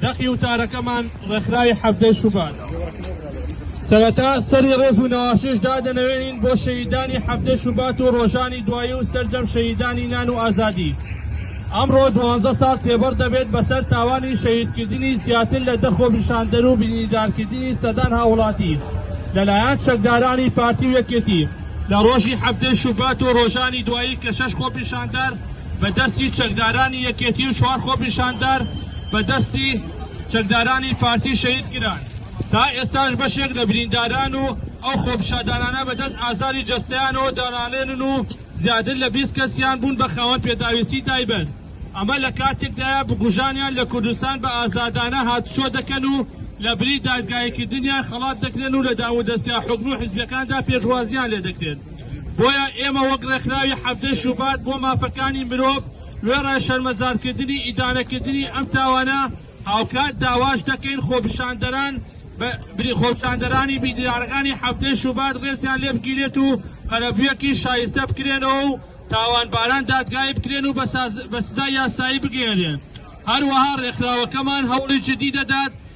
دەقی وتارەکەمان ڕێکخراوی حەڤدەی شوبات سەرەتا سەری ڕێز و نەواشش دادەنەوێنین بۆ شەهیدانی حەڤدەی شوبات و ڕۆژانی دوایی و سەرجەم شەهیدانی نان و ئازادی ئەمڕۆ دوانزە ساڵ تێبڕ دەبێت بەسەر تاوانی شەهیدکردنی زیاتر لە دە خۆپیشاندەر و بینیدارکردنی سەدان هاوڵاتی لەلایەن چەکدارانی پارتی و یەکێتی لە ڕۆژی حەفتەی شوبات و ڕۆژانی دوایی کە شەش خۆپیشاندار بە دەستی چەکدارانی یەکێتی و چوار خۆپیشاندار بە دەستی چەکدارانی پارتی شەهید کران تا ئێستاش بەشێک لە برینداران و ئەو خۆپیشاندانانە بە دەست ئازاری جەستەیانەوە دانالێنن و زیاتر لە بیست کەسیان بوون بە خاوەن پێداویستی تایبەت ئەمە لە کاتێکدایە بکوژانیان لە کوردستان بە ئازادانە هاتوچۆ دەکەن و لە بری دادگاییکردنیان خەڵات دەکرێن و لە دامودەزگا حکومی و حزبەکاندا پێشوازیان لێ دەکرێت بۆیە ئێمە وەک ڕێکخراوی حەڤدە شوبات بۆ مافەکانی مرۆڤ وێڕای شەرمەزارکردنی ئیدانەکردنی ئەم تاوانە هاوکات داواش دەکەین خۆپیشاندەران خۆپیشاندەرانی بیدرارەکانی حەڤدە شوبات ڕێزیان لێ بگیرێت و قەرەبویەکی شایستە بکرێنەوە و تاوانباران دادگایی بکرێن و بە سزای یاسایی بگەیەنرێن هەروەها ڕێکخراوەکەمان هەوڵی جدی دەدات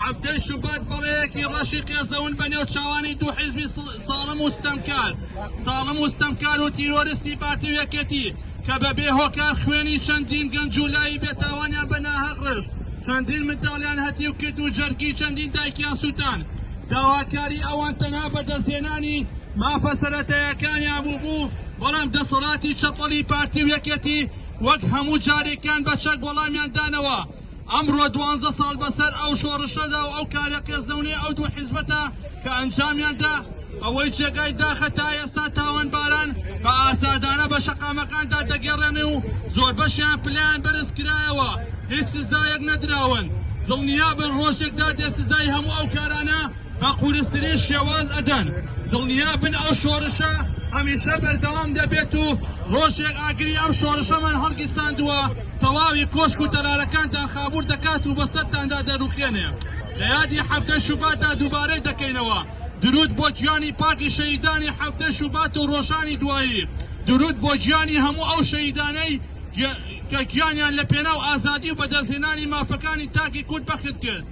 حەڤدەی شوبات، بەڵێیەکی ڕەشی قێزەون بەنێو چاوانی دوو حیزبی زاڵم و ستەمکار زاڵم و ستەمکار و تیرۆرستی پارتی و یەکێتی کە بە بێ هۆکار خوێنی چەندین گەنج و لاوی بێتاوانیان بە ناهەق ڕشت، چەندین منداڵیان هەتیو کرد و جەرگی چەندین دایکیان سووتان. داواکاری ئەوان تەنها بەدەستهێنانی مافە سەرەتاییەکانیان بوو، بەڵام دەسەڵاتی چەپەڵی پارتی و یەکێتی وەک هەموو جارێکیان بە چەک وەڵامیان دانەوە. ئەمڕۆ دوانزە ساڵ بەسەر ئەو شۆڕشەدا و ئەو کارە قێزەونەی ئەو دوو حیزبەتا کە ئەنجامیان دا، ئەوەی جێگای داخە تا ئێستا تاوانباران بە ئازادانە بە شەقامەکاندا دەگێڕێنێ و زۆربەشیان پلەیان بەرز کرایەوە هیچ سزایەک نەدراون، دڵنیابن ڕۆژێک دادێ سزای هەموو ئەو کارانە بە قورسترین شێواز ئەدەن، دڵنیا بن ئەو شۆرشە هەمیشە بەردەوام دەبێت و ڕۆژێک ئاگری ئەم شۆرشەمان هەڵگیرساندووە تەواوی کۆشک و تەلارەکانتان خابوور دەکات و بەسەرتاندا دەروخێنێ لە یادی حەڤدە شوباتدا دووبارەی دەکەینەوە درود بۆ گیانی پاکی شەهیدانی حەڤدە شوبات و ڕۆژانی دوایی درود بۆ گیانی هەموو ئەو شەهیدانەی کە گیانیان لە پێناو ئازادی و بەدەستهێنانی مافەکانی تاکی کورد بەخت کرد.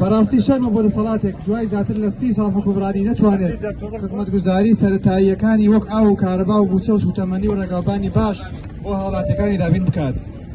بەڕاستی شەرمە بۆ دەسەڵاتێک دوای زیاتر لە سی ساڵ حکومڕانی نەتوانێت خزمەتگوزاری سەتاییەکانی وەک ئاو و کارەبا و بوچە و سوتەمەنی و ڕێگاوبانی باش بۆ هاوڵاتەکانی دابین بکات.